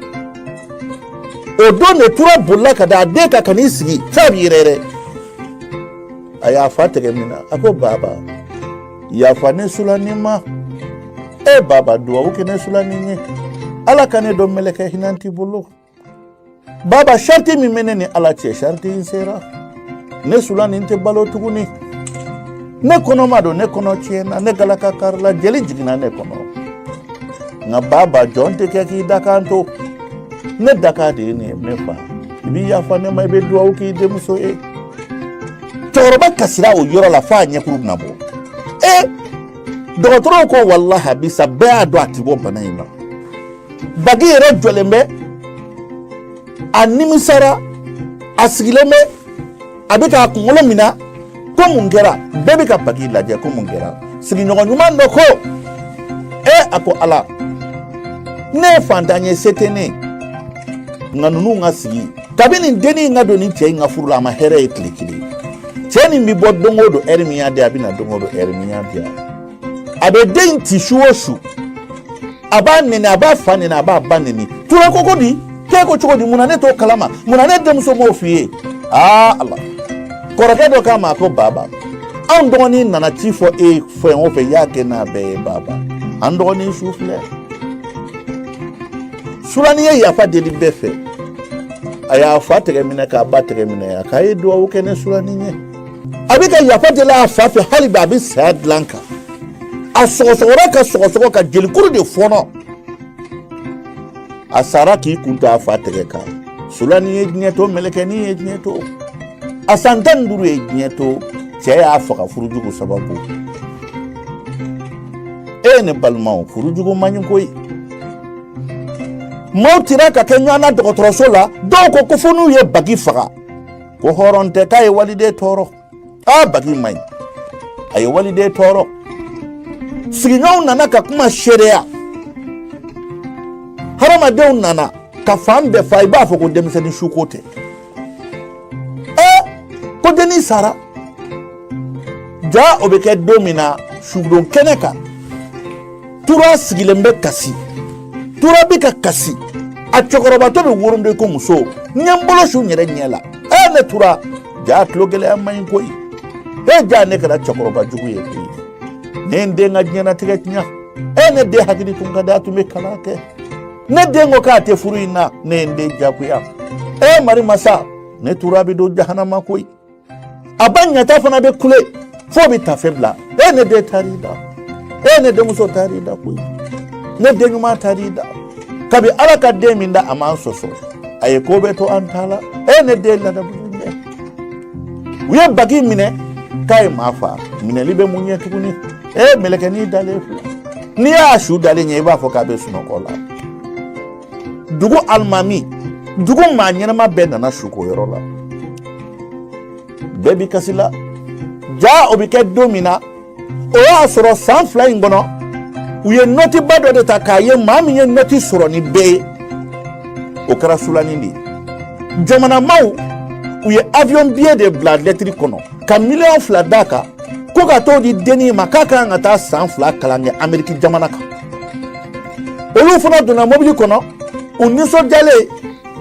o don de tura bolila ka da a den kan ka n'i sigi f'a bɛ yɛrɛyɛrɛ a y'a fa tɛgɛ minɛ a ko baba yafa ne sulani ma e baba duwawu kɛ ne sulani ye ala ka ne don mɛlɛkɛ hinɛnti bolo baba shariti min bɛ ne ni ala cɛ shariti in sera ne sulani tɛ balo tuguni ne kɔnɔma don ne kɔnɔ tiɲɛna ne galaka karila jeli jiginna ne kɔnɔ nka baba jɔn tɛ kɛ k'i dakan to ne dakan de ye nin ye ne fa i b'i yafa ne ma i bɛ dugawu k'i denmuso ye cɛkɔrɔba kasira o yɔrɔ la f'a ɲɛkuru bɛna bɔ ee dɔgɔtɔrɔw ko walahi a bi sa bɛɛ y'a dɔn a ti bɔ bana in na bagi yɛrɛ jɔlen bɛ a nimisara a sigilen bɛ a bɛ k'a kunkolo minɛ ko mun kɛra bɛɛ bɛ ka bagi lajɛ ko mun kɛra sigiɲɔgɔn ɲuman dɔ ko e a ko ala ne ye fantan ye se tɛ ne ye nka ninnu ka sigi kabini dennin in ka don nin cɛ in ka furu la a ma hɛrɛ ye tile kelen cɛ nin bɛ bɔ don o don ɛri min y'a diya a bɛ na don o don ɛri min y'a diya a bɛ den in ci su o su a b'a nɛni a b'a fa nɛni a b'a ba nɛni tura ko ko di k'e ko cogo di mun na ne t'o kalama mun na ne denmuso m'o f'i ye aa ala kɔrɔkɛ dɔ k'a ma ko baba anw dɔgɔnin nana ci fɔ e fɛn o fɛn y'a kɛ n'a bɛɛ ye baba an dɔgɔnin su filɛ sulani ye yafa deli bɛɛ fɛ a y'a fa tɛgɛ minɛ k'a ba tɛgɛ minɛ a k'a ye dugawu kɛ ne sulani ye a bɛ ka yafa deli a fa fɛ hali bi a bɛ saya dilan kan a sɔgɔsɔgɔra ka sɔgɔsɔgɔ ka jelikuru de fɔnɔ a sara k'i kun to a fa tɛgɛ kan sulani ye diɲɛ to mɛlɛkɛnin ye diɲɛ to a san tan ni duuru ye diɲɛ to cɛ y'a faga furujugu sababu e ne balimaw furujugu man ɲi koyi maaw tira ka kɛ ɲɔgɔn na dɔgɔtɔrɔso la dɔw ko ko fo n'u ye bagi faga ko hɔrɔn tɛ k'a ye waliden tɔɔrɔ aa bagi man ɲi a ye waliden tɔɔrɔ sigiɲɔgɔnw nana ka kuma seereya hadamadenw nana ka fan bɛɛ fa i b'a fɔ ko denmisɛnnin suko tɛ ɛ ko dennin sara ja o bɛ kɛ don min na sudon kɛnɛ kan tura sigilen bɛ kasi tura bɛ ka kasi a cɛkɔrɔbatɔ bɛ woronden ko muso n ye n bolo su n yɛrɛ ɲɛ la ɛ ne tura ja tulo gɛlɛya man ɲi koyi e ja ne kɛra cɛkɔrɔba jugu ye koyi ne ye n den ka diɲɛnatigɛ tiɲɛ e ne den hakili tun ka di a tun bɛ kalan kɛ ne den ko k'a tɛ furu in na ne ye n den jagoya e mari masa ne tura bɛ don jahanama koyi a ba ɲata fana bɛ kule fo bɛ tafe bila e ne den taar'i da e ne denmuso taar'i da koyi ne den ɲuman taar'i da kabi ala ka den min da a m'an sɔsɔ a ye ko bɛɛ to an ta la e ne den ladamulen bɛ u ye bagi minɛ k'a ye maa fa minɛli bɛ mun ɲɛ tuguni e mɛlɛkɛnin dalen filɛ n'i y'a su dalen ye i b'a fɔ k'a bɛ sunɔgɔ la dugu alimami dugu maa ɲɛnama bɛɛ nana suko yɔrɔ la bɛɛ bɛ kasi la ja o bɛ kɛ don min na o y'a sɔrɔ san fila in kɔnɔ u ye nɔtiba dɔ de ta k'a ye maa min ye nɔti sɔrɔ ni bɛɛ ye o kɛra sulani de ye jamana maaw u ye avion biye de bila lɛtiri kɔnɔ ka miliyɔn fila d'a kan ko ka t'o di dennin ma k'a ka kan ka taa san fila kalan kɛ ameriki jamana kan olu fana donna mobili kɔnɔ u nisɔndiyalen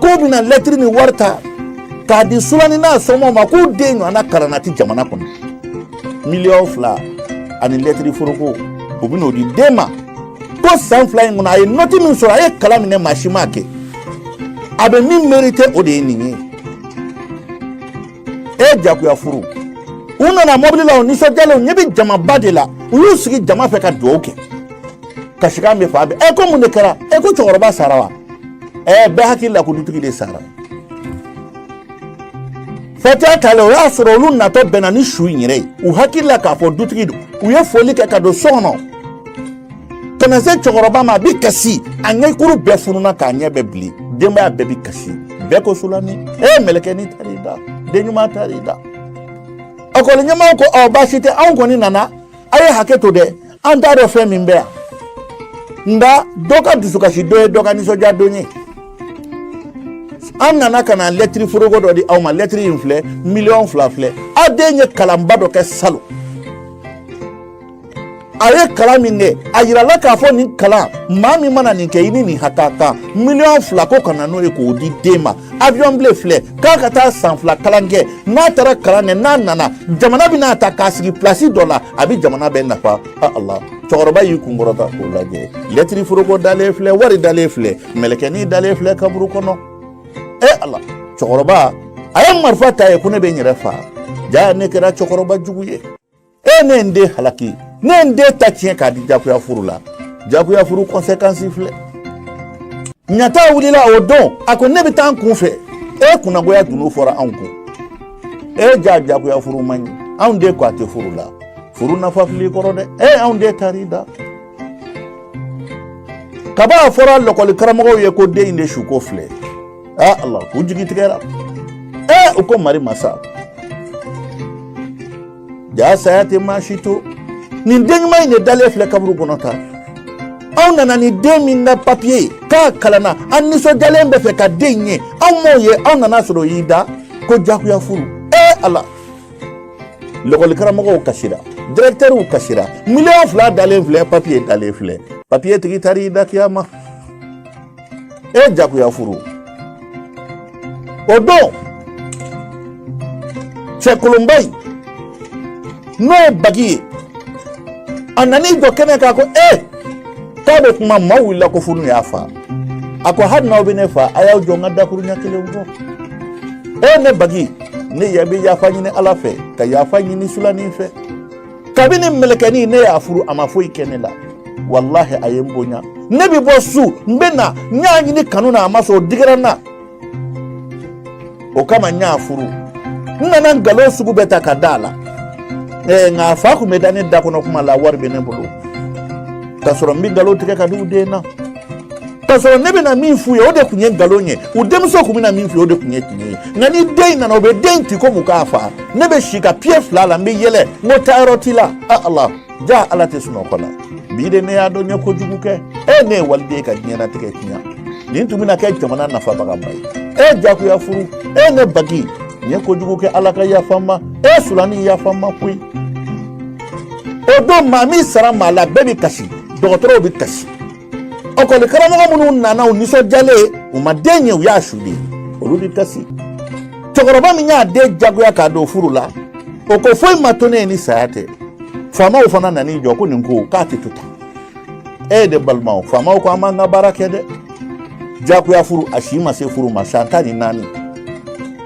k'u bɛna lɛtiri ni wari ta k'a di sulani n'a somaaw ma k'u den ɲɔgɔnna kalanna ti jamana kɔnɔ miliyɔn fila ani lɛtiri foroko u bɛn'o di den ma ko san fila in kɔnɔ a ye nɔti min sɔrɔ a ye kalan min kɛ maa si m'a kɛ a bɛ min merite o de ye nin ye e jagoya furu u nana mobili la u nisɔndiyalen u ɲɛ bɛ jamaba de la u y'u sigi jama fɛ ka dugawu kɛ kasikan bɛ fan bɛɛ ɛ ko mun de kɛra ɛ ko cɛkɔrɔba sara wa ɛ bɛɛ hakili la ko dutigi de sara fatiya talen o y'a sɔrɔ olu natɔ bɛnna ni su in yɛrɛ ye u hakili la k'a fɔ dutigi don u ye foli kɛ ka don so kɔnɔ ka na se cɛkɔrɔba ma a bɛ kasi a ɲɛkuru bɛɛ fununa k'a ɲɛ bɛɛ bilen denbaya bɛɛ bɛ kasi bɛɛ ko sulani e mɛlɛkɛnin taar'i da den ɲuman taar'i da ekɔli ɲɛmaaw ko ɔ baasi tɛ anw kɔni nana a ye hakɛ to dɛ an t'a dɔn fɛn min bɛ yan nka dɔ ka dusukasi don ye dɔ ka nisɔndiya don ye an nana ka na lɛtiri foroko dɔ di aw ma lɛtiri in filɛ miliyɔn fila filɛ aw den ye kalanba dɔ kɛ salon a ye kalan min kɛ a yirala k'a fɔ nin kalan maa min mana nin kɛ i ni nin ha ka kan miliyɔn fila ko ka na n'o ye k'o di den ma avion biye filɛ k'a ka taa san fila kalan kɛ n'a taara kalan kɛ n'a nana jamana bɛn'a ta k'a sigi pilasi dɔ la a bɛ jamana bɛɛ nafa a ala cɛkɔrɔba y'i kun kɔrɔta k'o lajɛ lɛtiri foroko dalen filɛ wari dalen filɛ mɛlɛkɛnin dalen filɛ kaburu kɔnɔ e ala cɛkɔrɔba a ye marifa ta ye ko ne bɛ n yɛrɛ faa jaa ne kɛra cɛkɔrɔba jugu ye e ne n den halaki ne n den ta tiɲɛ k'a di jagoya furu la jagoya furu kɔnsekansi filɛ ɲata wulila o don a ko ne bɛ taa n kun fɛ e kunnagoya dunun fɔra anw kun e jaa jagoya furu man ɲi anw den ko a tɛ furu la furu nafa fil'i kɔrɔ dɛ e anw den taar'i da kaban a fɔra lɔkɔli karamɔgɔw ye ko den in de suko filɛ aa ala k'u jigi tigɛra ee u ko mari masa jaa saya tɛ maa si to nin den ɲuman in de dalen filɛ kaburu kɔnɔ tan anw nana ni den min ka papiye ye k'a kalanna an nisɔndiyalen b'a fɛ ka den ye anw m'o ye anw nan'a sɔrɔ o y'i da ko jagoya furu ee ala lɔkɔli karamɔgɔw kasira dirɛkitɛriw kasira miliyɔn fila dalen filɛ papiye dalen filɛ papiye tigi taar'i da kiyama e jagoya furu o don cɛkolonba in n'o ye bagi ye a nana i jɔ kɛnɛ kan ko e k'a bɛ kuma maaw wulila ko fo n'u y'a faa a ko hali n'aw bɛ ne faa a y'aw jɔ n ka dakuruɲɛ kelen fɔ e ne bagi ne yɛrɛ bɛ yafa ɲini ala fɛ ka yafa ɲini sulanin fɛ kabini mɛlɛkɛni ne y'a furu a ma foyi kɛ ne la walahi a ye n bonya ne bɛ bɔ su n bɛ na n y'a ɲini kanu na a ma sɔn o digira n na o kama n y'a furu n nana nkalon sugu bɛɛ ta ka da a la ɛɛ nka a fa tun bɛ da ne da kɔnɔ kuma la wari bɛ ne bolo k'a sɔrɔ n bɛ nkalon tigɛ ka da u den na k'a sɔrɔ ne bɛna min f'u ye o de tun ye nkalon ye u denmuso tun bɛna min f'u ye o de tun ye tiɲɛ ye nka ni den in nana o bɛ den in ti komi k'a faa ne bɛ si ka piye fila la n bɛ yɛlɛ n ko taayɔrɔ t'i la a ala jaa ala tɛ sunɔgɔ la bi de ne y'a dɔn n ye kojugu kɛ e ne ye waliden ka diɲɛnatigɛ tiɲɛ nin tun bɛna kɛ jamana nafabagaba ye e jagoya furu e ne bagi n ye kojugu kɛ ala ka yafa n ma e sulani yafa n ma koyi o don maa min sara maa la bɛɛ bɛ kasi dɔgɔtɔrɔw bɛ kasi lɔkɔli karamɔgɔ minnu nana u nisɔndiyalen u ma den ye u y'a su de olu bɛ kasi cɛkɔrɔba min y'a den jagoya k'a don furu la o ko foyi ma to ne ye ni saya tɛ faamaw fana nan'i jɔ ko nin ko k'a tɛ to tan e de balimaw faamaw ko an b'an ka baara kɛ dɛ jagoya furu a si ma se furu ma san tan ni naani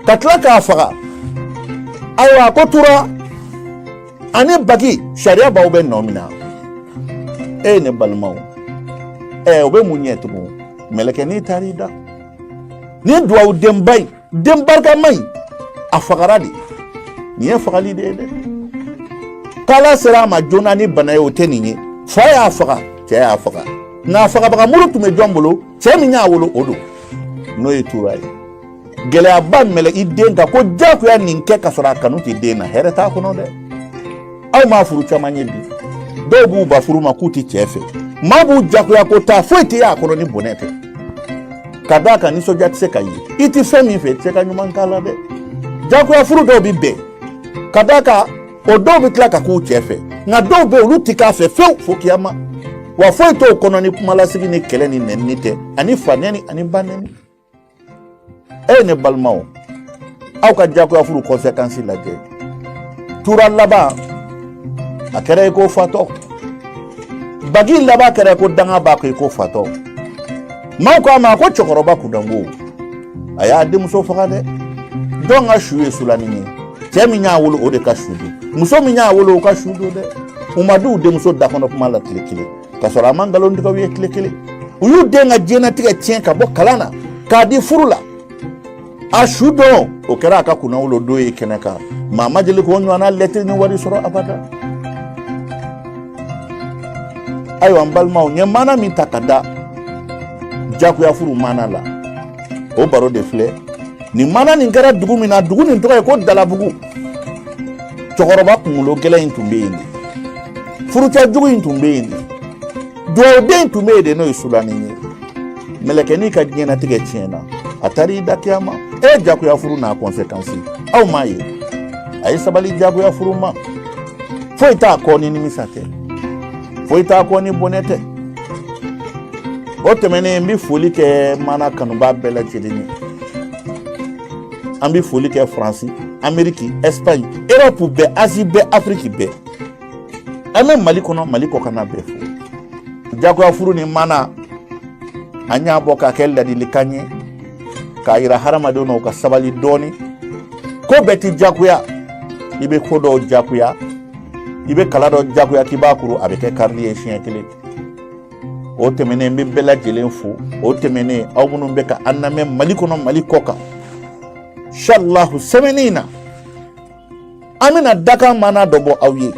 ka tila k'a faga ayiwa ko tora ani bagi sariya b'aw bɛɛ nɔmina eyi ne balimaw ɛ o bɛ mun ɲɛ tugun mɛlɛkɛnin taara i da ni duwawu denba in den barikama in a fagara de nin ye fagali de ye dɛ k'ala sera a ma joona ni bana ye o tɛ nin ye fa y'a faga cɛ y'a faga nka fagabaga muru tun bɛ jɔn bolo cɛ min y'a wolo o don n'o ye tura ye gɛlɛyaba yɛlɛ i den kan ko jagoya nin kɛ ka sɔrɔ a kanu tɛ den na hɛrɛ t'a kɔnɔ dɛ aw ma furu caman ye bi dɔw b'u ban furu ma k'u tɛ cɛ fɛ maa b'u jagoya ko taa foyi tɛ y'a kɔnɔ ni bɔnɛ tɛ ka d'a kan nisɔndiya tɛ se ka ye i tɛ fɛn min fɛ i tɛ se ka ɲuman k'a la dɛ jagoya furu dɔw bɛ bɛn ka d'a kan o dɔw bɛ tila ka k'u cɛ fɛ nka dɔw bɛ yen olu tɛ k'a fɛ fewu fo kiyama wa foyi t'o kɔnɔ ni kumalasigi ni kɛlɛ ni nɛnini tɛ ani fa nɛni ani ba nɛni eyi ne balimaw aw ka jagoya furu kɔnsekansi lajɛ tura laban a kɛra i ko fatɔ bagi laban kɛra ko danga b'a kɔ i ko fatɔ maaw k'a ma ko cɛkɔrɔba kunnango a y'a denmuso faga dɛ jɔn ka su ye sulanin ye cɛ min y'a wolo o de ka su don muso min y'a wolo o ka su don dɛ u ma d'u denmuso dakɔnɔ kuma la tile kelen ka sɔrɔ a ma nkalon tigɛ u ye tile kelen u y'u den ka diɲɛnatigɛ tiɲɛ ka bɔ kalan na k'a di furu la a su don o kɛra a ka kunnawolo don ye kɛnɛ kan maa ma deli k'o ɲɔgɔnna lɛtiri ni wari sɔrɔ abada ayiwa n balimaw n ye maana min ta ka da jagoya furu maana la o baro de filɛ nin maana nin kɛra dugu min na dugu nin tɔgɔ ye ko dalabugu cɛkɔrɔba kunkolo gɛlɛn in tun bɛ yen de furucɛ jugu in tun bɛ yen de dugawuden tun bɛ yen de n'o ye sulanin ye mɛlɛkɛnin ka diɲɛnatigɛ tiɲɛna a taara i da kiyama e ye jagoya furu n'a kɔnsekansi aw m'a ye a ye sabali jagoya furu ma foyi t'a kɔ ni nimisa tɛ foyi t'a kɔ ni bɔnɛ tɛ o tɛmɛnen n bɛ foli kɛ maana kanubaa bɛɛ lajɛlen ye an bɛ foli kɛ faransi ameriki ɛsipaɲi erɔpu bɛɛ azi bɛɛ afiriki bɛɛ an bɛ mali kɔnɔ mali kɔkanna bɛɛ fo jagoya furu nin maana an y'a bɔ k'a kɛ ladilikan ye k'a yira hadamadenw na u ka sabali dɔɔni ko bɛɛ ti jagoya i bɛ ko dɔw jagoya i bɛ kala dɔ jagoya k'i b'a kuru a bɛ kɛ karili ye siɲɛ kelen o tɛmɛnen n bɛ bɛɛ lajɛlen fo o tɛmɛnen aw minnu bɛ ka an lamɛn mali kɔnɔ mali kɔkan insalahu sɛmɛni in na an bɛna dakan mana dɔ bɔ aw ye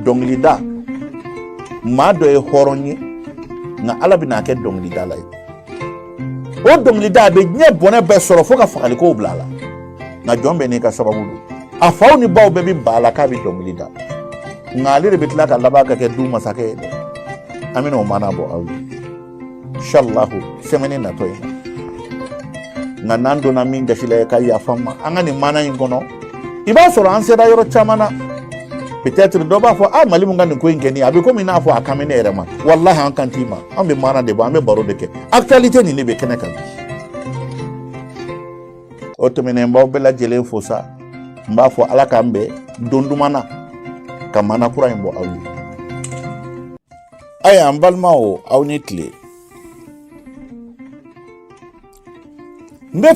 dɔnkilida maa dɔ ye hɔrɔn ye nka ala bɛna a kɛ dɔnkilidala ye o dɔnkilida a bɛ diɲɛ bɔnɛ bɛɛ sɔrɔ fo ka fagalikow bila a la nka jɔn bɛɛ n'i ka sababu don a faw ni baw bɛɛ bɛ ban a la k'a bɛ dɔnkili da nka ale de bɛ tila ka laban ka kɛ du masakɛ ye dɛ an bɛna o mana bɔ aw ye inshallahu semaine natɔ ye nka n'an donna min gasi la i ka yafa an ma an ka nin mana in kɔnɔ i b'a sɔrɔ an sera yɔrɔ caman na peut-être dɔ b'a fɔ a mali mun ka nin ko in kɛ nin a bɛ komi n'a fɔ a kan bɛ ne yɛrɛ ma walahi an kan t'i ma an bɛ mana de bɔ an bɛ baro de kɛ actualité nin de bɛ kɛnɛ kan o tɛmɛnen n b'aw bɛɛ lajɛlen fo sa n b'a fɔ ala k'an bɛn don duman na ka mana kura in bɔ aw ye Ayiwa n balimaw aw ni tile n bɛ